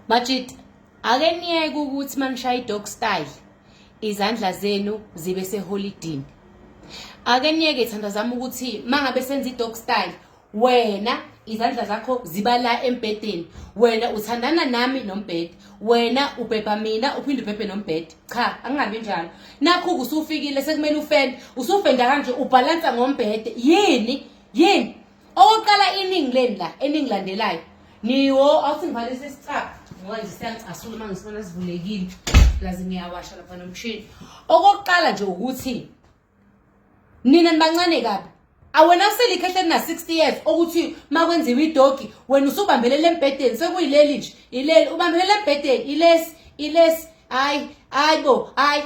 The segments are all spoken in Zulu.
Majita ake niyeke ukuthi manishaya idog style izandla zenu zibe seholidini ake niyeke thanda zami ukuthi mangabe senza idog style wena izandla zakho ziba la embhedeni wena uthandana nami nombhede wena ubhebha mina uphinde ubhebhe nombhede cha angingabi njalo nakho kusufikile sekumele ufende usufenda kanje ubhalansa ngombhede yini yini Okokuqala iningi leni la eningilandelayo niwo awusingivalisa isicaba ngoba nje siyangicasula uma ngisibona sivulekile lazi ngiyawasha lapha nomshini okokuqala nje ukuthi nina nibancane kabi awena uselikhe ehleli na-60 years okuthi uma kwenziwa idogi wena usubambelele embhedeni sekuyileli nje ileli ubambelele embhedeni ilesi ilesi hayi hayi bo hayi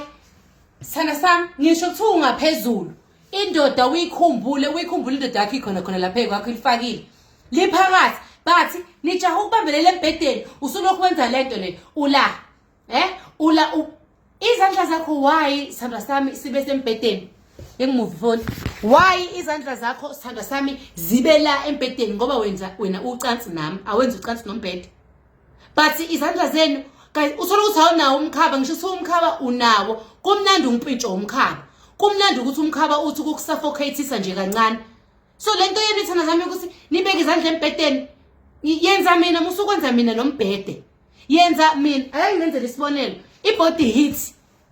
sana sami ngisho kuthiwa ungaphezulu indoda uyikhumbule uyikhumbule indoda yakho ikhona khona lapha ekwakho ilifakile liphakathi bathi nijaha ukubambelela embhedeni usulokhu wenza le nto le ula eh ula izandla zakho why sithandwa sami sibe sembhedeni engimuvi foni why izandla zakho sithandwa sami zibe la embhedeni ngoba wenza wena ucansi nami awenzi ucansi nombhede but izandla zenu guys uthola ukuthi awunawo umkhaba ngisho kuthiwa umkhaba unawo kumnandi umpintsho womkhaba kumnandi ukuthi umkhaba uthi ukukusuffocatisa nje kancane so le nto yenu ithanda zami ukuthi nibeke izandla embhedeni yenza mina musukwenza mina nombhede yenza mina ake ngenzele isibonelo i-body heat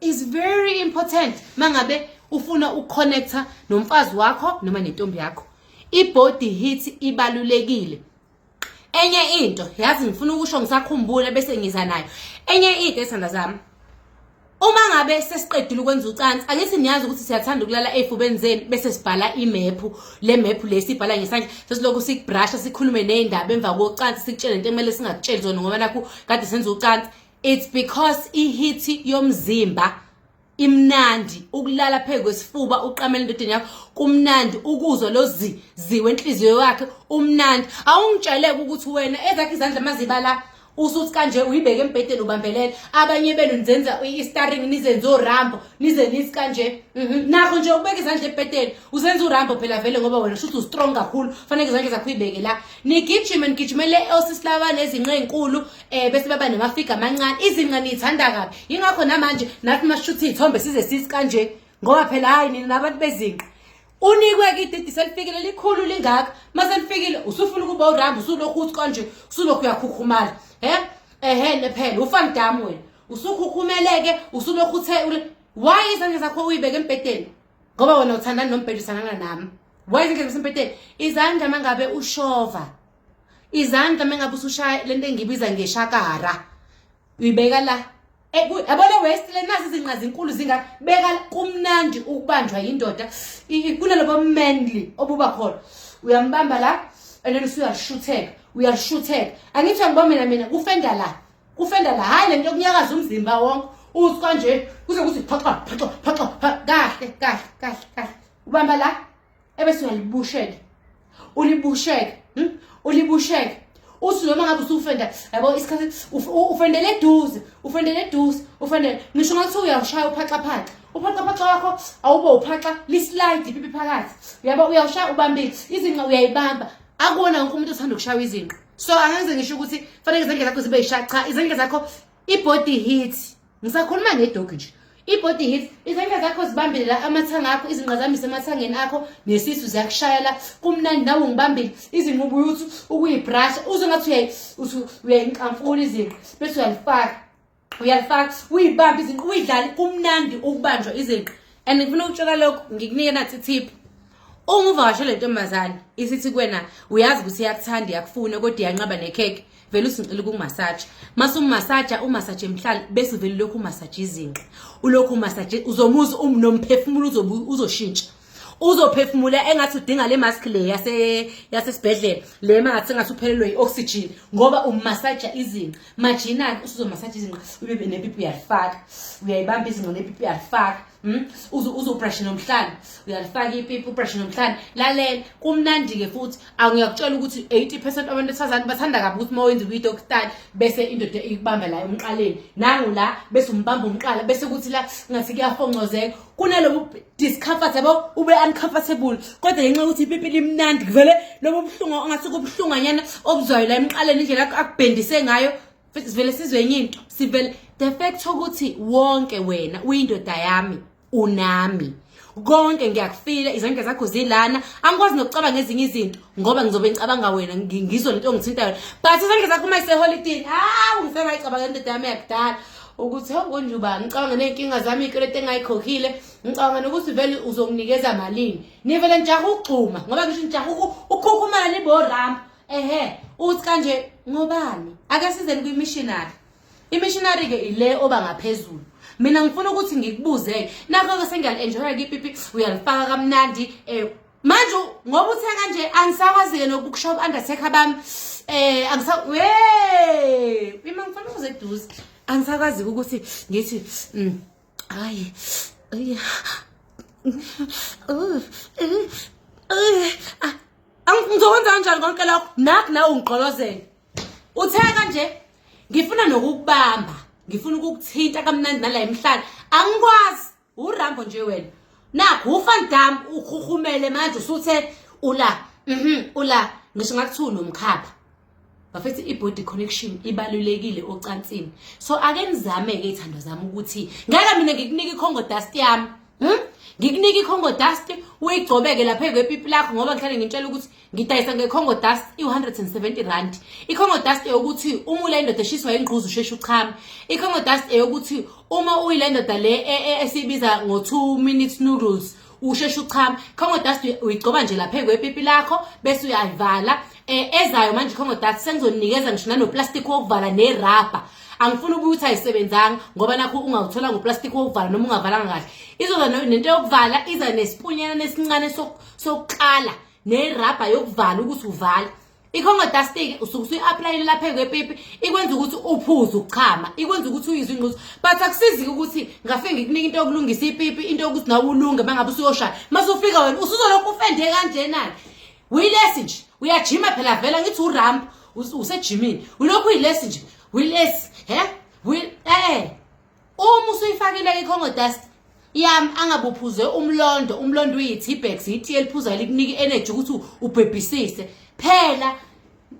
is very important mangabe ufuna ukuconnecta nomfazi wakho noma nentombi yakho i-body heat ibalulekile enye into yazi ngifuna ukusho ngisakhumbule bese ngiza nayo enye into esanda zami uma ngabe sesiqedile ukwenza ucansi ake siniyazi ukuthi siyathanda ukulala ey'fubeni zenu bese sibhala imephu le mephu le sibhala ngesandla sesilokhu sikubrasha sikhulume ney'ndaba emva kocansi sikutshele into ekumele singakutsheli zona ngoba nakhu kade senza ucansi it's because ihithi yomzimba imnandi ukulala phezu kwesifuba uqamela endodeni yakho kumnandi ukuzwa lo zi ziwe enhliziyo yakhe umnandi awungitsheleke ukuthi wena ezakhe izandla mazibala usuthi kanje uyibeke embhedeni ubambelele abanye benu nizenza i-staring nizenza orambo nize nithi kanje mhm. nakho nje ukubeka izandla ebhedeni uzenza urambo phela vele ngoba wena shuthi ustrong kakhulu faneke izandla zakho uyibeke la nigijime nigijimele osisilabane ezinqe enkulu eh bese baba namafiga amancane izinqa niyithanda kabi yingakho namanje nathi masishutha izithombe size sisi kanje ngoba phela hayi nina nabantu bezinqa unikwe ke ididi selifikile likhulu lingaka mase lifikile usufuna ukuba uramba usulokhu uthi kanje usulokhu uyakhukhumala he ehe nephela ufan dam wena usukhukhumeleke usulokhu uthe why izandla zakho uyibeke embhedeni ngoba wena uthandana nombhedisana nami why izandla zasempeteni izandla mangabe ushova izandla mengabe usushaya lento engibiza ngeshakara uyibeka la yabona west le nazi izinqa zinkulu zinga beka kumnandi ukubanjwa yindoda kunalobo manly obuba khona uyambamba la and then usuyashutheka uyashutheka angithi angiba mina mina kufenda la kufenda la hayi lento yokunyakaza umzimba wonke uthi kanje kuze kuthi phaxa phaxa phaxa kahle kahle kahle kahle ubamba la ebese uyalibusheke ulibusheke hmm? ulibusheke uthi noma ngabe usufenda yabo isikhathi ufendele eduze ufendele eduze ufendele ngisho ngathi uyawushaya uphaxaphaxa uphaxaphaxa wakho awube uphaxa lislide ipipi phakathi uyabo uyawushaya ubambile izinqa uyayibamba akuwona wonke umuntu othanda ukushaywa izinqa so angenze ngisho ukuthi fanele izandla zakho zibe yishaqa izandla zakho ibody hit ngisakhuluma ngedogi nje ibody hit izandla zakho zibambile la amathanga akho izinqa zami semathangeni akho nesisu ziyakushaya la kumnandi nawe ngibambile izinqubu yuthu ukuyibrasha uze ngathi uyayinqamfula izinqa bese uyalifaka uyalifaka uyibambe izinqa uyidlale kumnandi ukubanjwa izinqa and ngifuna ukutshela lokho ngikunike nathi tip uma uvakashele ntombazane isithi kwena uyazi ukuthi iyakuthanda iyakufuna kodwa iyanqaba nekhekhe vele usingicela ukumasaja mase umasaja umasaje mhlali bese vele lokhu umasaje izinqa ulokhu umasaje uzomuza um, nomphefumulo uzoshintsha uzophefumula engathi udinga le mask le yase yasesibhedlela le mathi engathi uphelelwe i-oxygen ngoba umasaja izinqa majinani usuzomasaja izinqa ube nepipi uyalifaka uyayibamba izinqa nepipi uyalifaka Hmm? uze uze ubrushe nomhlane uyalifaka ipipi ubrushe nomhlane lalela kumnandi-ke futhi angiyakutshela ukuthi 80 percent abantu besifazane bathanda kabi ukuthi uma wenza i-video style bese indoda ikubamba la emqaleni nangu la bese umbamba umqala bese kuthi la ngathi kuyafoncozeka kunalobu discomfort yabo ube uncomfortable kodwa ngenxa yokuthi ipipi limnandi kuvele lobo buhlungu ongathi kubuhlunganyana obuzwayo la emqaleni indlela akubhendise ngayo sivele sizwe enye into sivele the fact ukuthi wonke wena uyindoda yami unami konke ngiyakufila izandla zakho zilana angikwazi nokucabanga ezinye izinto ngoba ngizobe ngicabanga wena ngizwe lento ongithintayo but izandla zakho uma iseholidini hawu ngisengayicabanga indoda yami yakudala ukuthi hongonjuba ngicabanga ney'nkinga zami iy'kweleti engayikhokhile ngicabanga nokuthi vele uzonginikeza malini nivele nijaha ukugxuma ngoba ngisho nijaha ukhukhumala niborama ehe uthi kanje ngobani ake sizeni kwi-missionary i-missionary ke ile oba ngaphezulu mina ngifuna ukuthi ngikubuze nakho ke sengiyali-enjoya kipipi uyalifaka kamnandi um manje ngoba uthe kanje angisakwazi-ke nokukushow undertaker bami eh angisa we mina ngifuna ukuze eduze angisakwazi ukuthi ngithi mm, Ay. Ay. Ngizokwenza kanjani konke lokho? Nakho nawe ungigqolozele. Uthe kanje ngifuna nokukubamba, ngifuna ukukuthinta kamnandi nala emhlanje. Angikwazi. Urambo nje wena. Nakho uFan Dam ukhukhumele manje usuthe ula. Mhm, ula. Ngisho ngakuthi unomkhapha. bafethu i-body connection ibalulekile ocansini so ake nizame-ke iy'thando zami ukuthi ngeke mina ngikunike ikhongo dust yami hmm? ngikunike ikhongo dust uyigcobeke lapha kwepipi lakho ngoba ngihlale ngintshela ukuthi ngidayisa ngekhongo dust i-170 rand ikhongo dust eyokuthi uma ule ndoda eshiswa yingquzu usheshe uchame ikhongo dust eyokuthi uma uyile ndoda le e, e, esiyibiza ngo-two minutes noodles usheshe uchama congo dust uyigcoba nje lapha kwepipi lakho bese uyayivala eh ezayo manje congo dust sengizonikeza ngisho nanoplastic wokuvala nerubber angifuni ubuye ukuthi ayisebenzanga ngoba nakho ungawuthola ngoplastic wokuvala noma ungavalanga kahle izoza nento yokuvala iza nesipunyana nesincane sokuqala nerabha yokuvala ukuthi uvala ikhongo dastiki usuke usuyi-aplayile lapha kwepipi ikwenza ukuthi uphuze ukuchama ikwenza ukuthi uyizwe ingquzo but akusizike ukuthi ngafike ngikunika into yokulungisa ipipi into yokuthi nawe ulunge uma ngabe usuyoshaya uma sufika wena usuzolokhu ufende kanjenani uyilesi nje uyajima phela vela ngithi uramp usejimini ulokhu uyilesi nje uyilesi he eh uma usuyifakile icongo dust yami angabuphuze umlondo umlondo uyi-tbex yitiye eliphuzayo likunika i-energy ukuthi ubhebhisise phela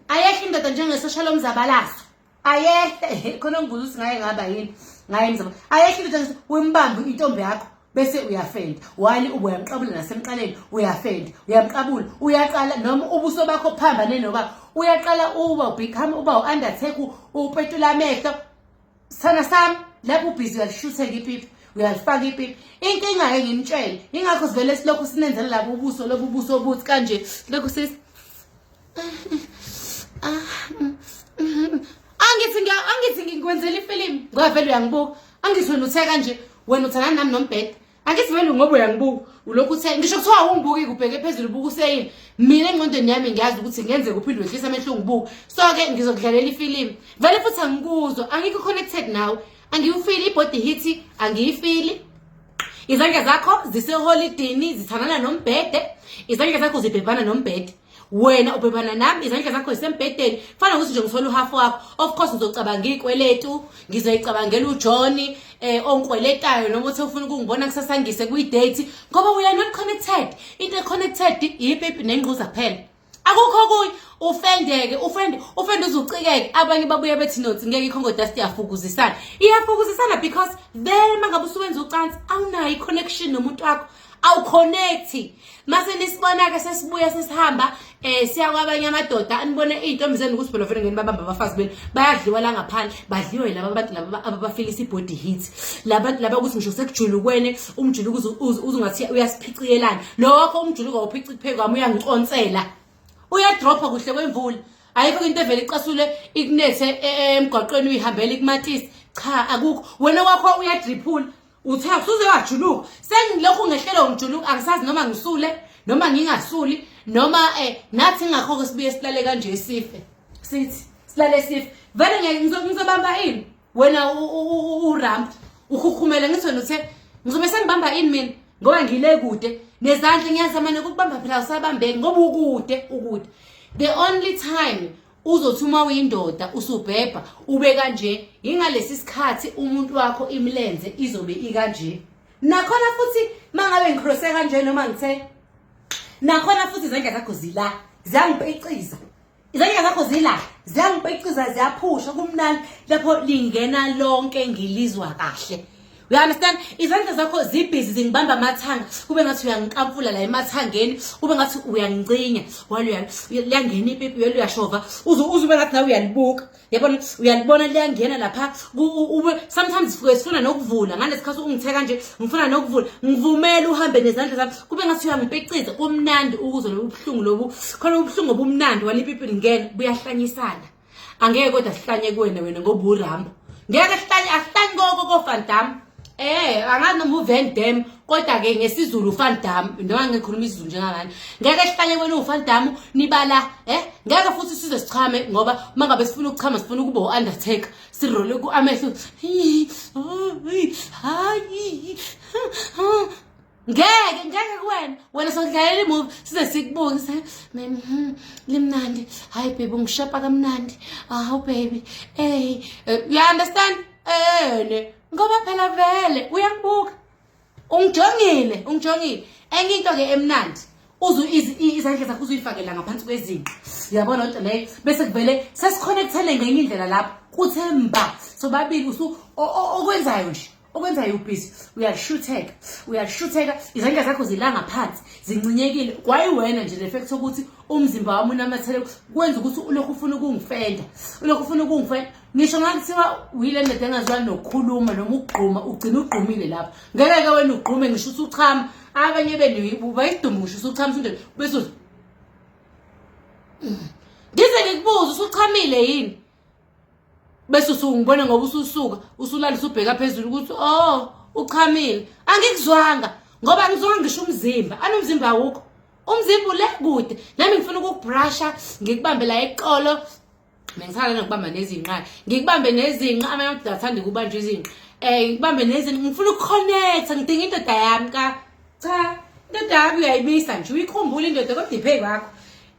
ayehle indoda njengesosha lomzabalazo ayehle khona ngibuza ukuthi ngaye ngaba yini ngaye mzaba ayehle indoda wimbambe intombi yakho bese uyafenda wali uyamqabula nasemqaleni uyafenda uyamqabula uyaqala noma ubuso bakho phambane noba uyaqala uba ubecome uba u-undertake upetula amehlo Sana sami lapho ubhizi uyalishuthe ngipipi uyalifaka ipipi inkinga ke nginitshele ingakho sivele silokhu sinenzela labo ubuso lobu buso obuthi kanje lokhu sis angithi ngiya angithi ngikwenzela ifilimu ngoba vele uyangibuka angithi wena uthe kanje wena uthandana nami nombhede angithi vele ngoba uyangibuka ulokhu uthe ngisho kuthiwa ungibuki kubheke phezulu ubuka useyini mina engqondweni yami ngiyazi ukuthi ngenze kuphinde wehlisa amehlo ungibuka so-ke ngizokudlalela ifilimu vele futhi angikuzwa angikho connected nawe angiwufili ibody hithi angiyifili izandla zakho ziseholidini zithandana nombhede izandla zakho zibhebhana nombhede wena ubhebana nami izandla zakho zisembhedeni kufanele ukuthi nje ngithole uhafu wakho of course ngizocabanga iy'kweletu ngizoyicabangela ujoni um eh, ongikweletayo noma uthi ufuna ukungibona kusasa ngise kwi-date ngoba we are not connected into e-connected yipipi nengquza kuphela akukho kuye ufendeke ufende ufende uzucikeke abanye babuye bethi nothi ngeke ikhongo dust iyafukuzisana iyafukuzisana because then mangabe usuwenza ucansi awunayo i-connection nomuntu wakho awuconnecti mase nisibona-ke sesibuya sesihamba um eh, siya kwabanye amadoda anibone iy'ntombi zenu ukuthi phela ngeni babamba abafazi benu bayadliwa la ngaphandle badliwe laba abantu laba ababafilisa i-body hit labantu laba ukuthi ngisho sekujulukwene umjuluko uzungathi uyasiphiciyelana lokho umjuluko wawuphici kupheku kwami uyangiconsela uyadropha kuhle kwemvula ayikho into evele icasule ikunethe e, e, emgwaqweni uyihambela ikumatisi cha akukho wena wakho uyadriphula Uthe usuze wajuluka. Sengilokhu ngehlelo ngijuluka angisazi noma ngisule noma ngingasuli noma eh nathi ngakho ke sibuye silale kanje sife. Sithi silale sife. Vele ngeke ngizobamba ini? Wena u ramp ukhukhumele ngithi wena uthe ngizobe sengibamba ini mina ngoba ngile kude nezandla ngiyazama nokubamba phela usabambeki ngoba ukude ukude. The only time uzothi uma uyindoda usubhebha ube kanje yingalesi sikhathi umuntu wakho imilenze izobe ikanje nakhona futhi mangabe ngicrose kanje noma ngithe nakhona futhi izandla zakho zila ziyangipeciza izandla zakho zila ziyangipeciza ziyaphusha kumnandi lapho lingena lonke ngilizwa kahle You understand? Izandla zakho zibhizi zingibamba amathanga. Kube ngathi uyangiqamfula la emathangeni, kube ngathi uyangicinya. Walo uyangena ipipi yelo uyashova. Uze uze ube ngathi nawe uyalibuka. Yabona uyalibona liyangena lapha. Ube sometimes fuke sifuna nokuvula. Ngale sikhathi ungithe kanje, ngifuna nokuvula. Ngivumela uhambe nezandla zami. Kube ngathi uyangipiciza. Kumnandi ukuzwa lobu buhlungu lobu. Khona ubuhlungu obumnandi walipipi lingena buyahlanyisana. angeke kodwa sihlanye kuwena wena ngoba uramba ngeke sihlanye asihlanye koko kofandam Eh angazi noma uVan Dam kodwa ke ngesiZulu uVan Dam noma ngikhuluma isiZulu njengabani ngeke sihlanye kwena uVan Dam nibala eh ngeke futhi size sichame ngoba mangabe sifuna ukuchama sifuna ukuba uUndertaker sirole kuamehlo hayi ngeke ngeke kuwena wena sodlalela imovie size sikubuke sa mem hmm, limnandi hayi baby ungishepa kamnandi awu baby ey eh, you understand ene eh, ngoba phela vele uyakubuka ungijongile ungijongile enye into ke emnandi uzu izandla zakho uzuyifakela ngaphansi kwezinqa yabona lento leyo bese kuvele sesikhonekthele ngenye indlela lapho kuthe mba sobabili usu okwenzayo nje okwenzayo ubhizi uyashutheka uyashutheka izandla zakho zilanga phansi zincinyekile kwayiwena nje le fact ukuthi umzimba wami unamathele kwenza ukuthi ulokhu ufuna ukungifenda ulokhu ufuna ukungifenda ngisho ngakuthiwa uyile ndoda engazwani nokukhuluma noma ukugquma ugcina ugqumile lapho ngeke-ke wena ugqume ngisho uthi uchama abanye benu bayidume ngisho uthi uchama usundoda bese ngize ngikubuze usuchamile yini bese usungibona ngoba ususuka usulala usubheka phezulu ukuthi oh uchamile angikuzwanga ngoba ngizonga ngisho umzimba anomzimba awukho umzimba ule kude nami ngifuna ukubrusha ngikubambe la eqolo ngisala nokubamba nezinqa ngikubambe nezinqa amanye amadoda athanda ukubanjwa izinqa um ngikubambe nezinqa ngifuna ukuconnecta ngidinga indoda yami ka cha indoda yami uyayibisa nje uyikhumbula indoda kodwa iphe kwakho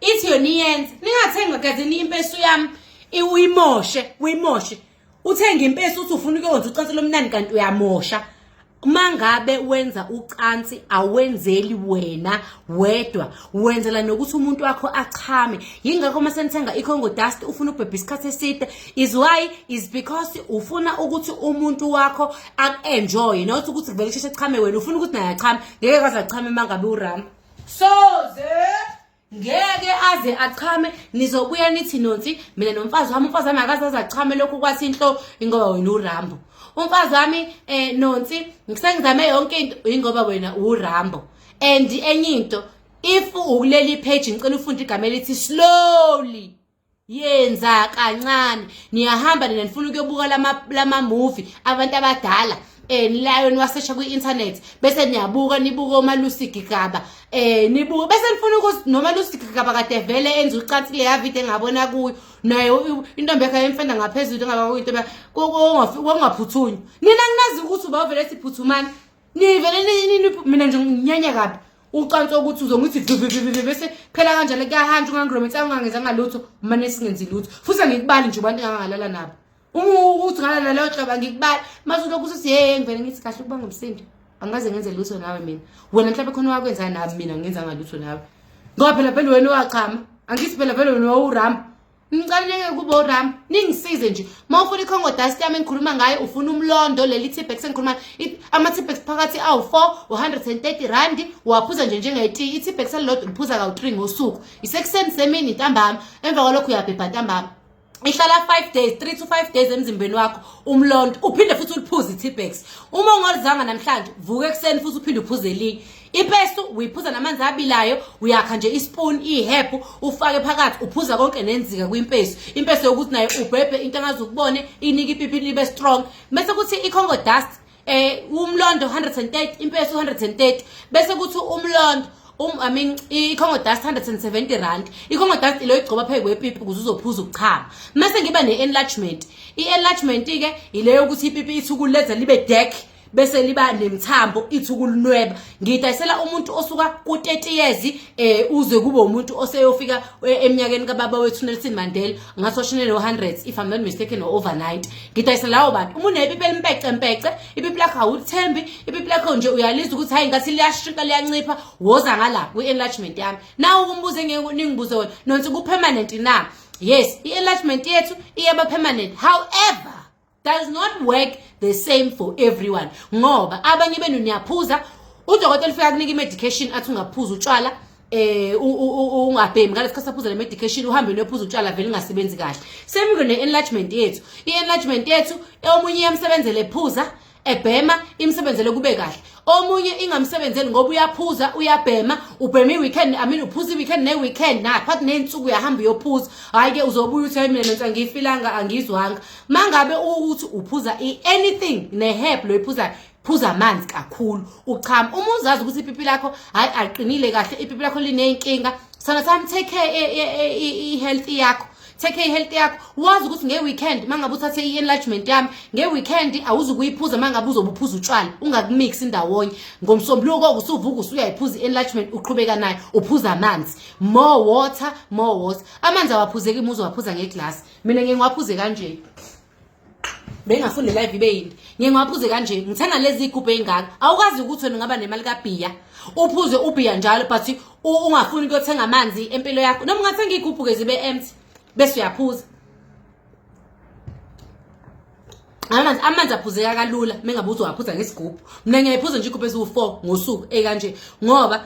ithi yona iyenze ningathenga gadini impesu yami uyimoshe uyimoshe uthenga impesu uthi ufuna ukuyonza ucansi lomnani kanti uyamosha mangabe wenza ucansi awenzeli wena wedwa wenzela nokuthi umuntu wakho achame yingakho uma senithenga icongo dust ufuna ukubhebha isikhathi eside is why is because ufuna ukuthi umuntu wakho aku-enjoye not ukuthi kuvele kusheshe chame wena ufuna ukuthi naye achame ngeke kwaze achame mangabe urama soze ngeke aze achame nizobuya nithi nonsi mina nomfazi wami umfazi wami akaze aze achame lokhu kwathi inhlo ingoba wena urambo umfazi wami eh nonsi ngisengizame yonke into ingoba wena urambo and enye into if ukuleli page ngicela ufunde igama elithi slowly yenza kancane niyahamba nina nifuna ukuyobuka lama-movie abantu abadala eh nilayo niwasesha kwi-internet bese niyabuka nibuke umalusi gigaba eh nibuke bese nifuna ukuthi nomalusi gigaba kade vele enza ucansi leya video engabona kuyo naye intombi yakhe yemfenda ngaphezulu engaba kuyinto kwangaphuthunyi nina nginazi ukuthi ubavele siphuthumani nivele mina nje nginyanya kabi ucansa ukuthi uzongithi vivivivivi bese phela kanjalo kuyahantsha ungangirometsa ungangenzanga lutho umane singenzi lutho futhi angikubali nje abantu engangalala nabo ukuthi ngalala leyo hlobo angikubali mase ulokhu usuthi yeye ngivele ngithi kahle ukuba ngumsindo angikaze ngenze lutho nawe mina wena mhlawumbe khona wakwenzani nami mina ngenzanga lutho nawe ngoba phela vele wena owachama angithi phela vele wena wawuramba Ngicaluleke kubo uRam, ningisize nje. Uma ufuna iCongo dust yami engikhuluma ngayo, ufuna umlondo leli Tipex engikhuluma ama Tipex phakathi awu4 130 rand, uwaphuza nje njengeti. ITipex elilodwa ngiphuza kawu3 ngosuku. Isekuseni semini ntambama, emva kwalokho uyabhebha ntambama. ihlala 5 days 3 to 5 days emzimbeni wakho umlonto uphinde futhi uliphuze iTipex uma ungolizanga namhlanje vuka ekuseni futhi uphinde uphuze elinye ipestu uyiphuza namanzi abilayo uyakha nje ispoon ihephu ufake phakathi uphuza konke nenzika kwimpesu impesu yokuthi naye ubhebhe into angazi ukubone inike ipipi libe strong bese kuthi icongo dust eh umlondo 130 impesu 130 bese kuthi umlondo um i mean icongo dust 170 rand icongo dust ilo igcoba phezu kwepipi ukuze uzophuza ukuchama mase ngiba ne-enlargement i-enlargement-ke yileyo ukuthi ipipi ithukuleza libe deck bese liba nemthambo ithi ukulunweba ngidayisela umuntu osuka ku-30 years eh uze kube umuntu oseyofika eh, eminyakeni kababa wethu Nelson Mandela ngathi oshine no hundreds if i'm not mistaken or overnight ngidayisela lawo bantu uma unepipi elimpece mpece ipipi lakho awulithembi ipipi lakho nje uyalizwa ukuthi hayi ngathi liyashinka liyancipha woza ngala kwi-enlargement yami nawe ukumbuze ngeke ningibuze wena nonse ku-permanent na yes i-enlargement yethu iyaba permanent however does not work the same for everyone ngoba abanye benu niyaphuza udokotela ufika kunika i-medication athi ungaphuza utshwala eh ungabhemi ngalesi khathi saphuza le medication uhambe nophuza utshwala vele ungasebenzi kahle same ngene enlargement yethu i-enlargement yethu omunye yamsebenzele phuza ebhema imsebenzele kube kahle omunye ingamsebenzeli ngoba uyaphuza uyabhema ubhema i-weekend i mean uphuza i-weekend ne-weekend naphakathi ney'nsuku uyahamba uyophuza hhayi-ke uzobuya uthi hayi mina nonsa ngiyifilanga angizwanga mangabe ukuthi uphuza anything neherb loyiphuzayo phuza amanzi kakhulu uchama uma uzazi ukuthi ipipi lakho hayi aqinile kahle ipipi lakho lineyinkinga sana sami take care e, e, e, i-health yakho take care i-health yakho wazi ukuthi nge-weekend uma ngabe uthathe i-enlargement yami nge-weekend awuzi ukuyiphuza uma ngabe uzobe uphuza utshwala ungakumix indawonye ngomsombuluko koke usuvuka usuyayiphuza i-enlargement uqhubeka nayo uphuza amanzi more water more water amanzi awaphuzeki muze waphuza ngeglasi mina ngeke ngiwaphuze kanje bengafuni le live ibe yini ngeke ngiwaphuze kanje ngithenga lezi igubhu ey'ngaka awukwazi ukuthi wena ungaba nemali kabhiya uphuze ubhiya njalo but ungafuni ukuyothenga amanzi empilo yakho noma ungathenga iy'gubhu-ke zibe empty bese uyaphuza amanzi amanzi aphuzeka kalula mengabe uzowaphuza ngesigubhu mina ngiyayiphuza nje igubhu eziwu-four ngosuku ey'kanje ngoba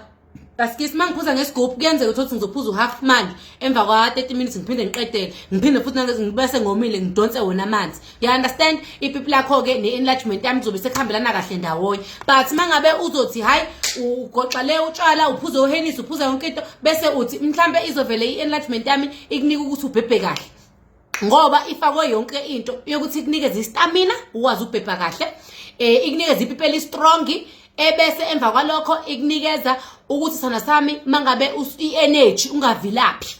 Basikisi uma ngiphuza ngesigubhu kuyenzeka ukuthi ngizophuza u-half manje emva kwa-30 minutes ngiphinde ngiqedele ngiphinde futhi ngibese ngomile ngidonse wona amanzi you understand ipipi lakho-ke ne-enlargement yami kuzobe sekuhambelana kahle ndawonye but uma ngabe uzothi hhayi ugoxa le utshwala uphuze uhenisi uphuza yonke into bese uthi mhlawumbe izovele i-enlargement yami ikunika ukuthi ubhebhe kahle ngoba ifakwe yonke into yokuthi ikunikeze istamina ukwazi ukubhebha kahle um ikunikeze ipipi elistrongi ebese emva kwalokho ikunikeza ukuthi sana sami mangabe i-energy ungavilaphi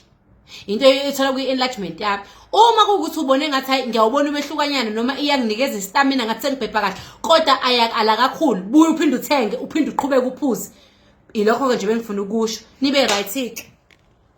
into ethola kwi-enlargement yami uma kuwukuthi ubone ngathi hayi ngiyawubona umehlukanyana noma iyanginikeza istamina ngathi sengibhebha kahle kodwa ayakala kakhulu buye uphinde uthenge uphinde uqhubeke uphuze ilokho-ke nje bengifuna ukusho nibe right-ke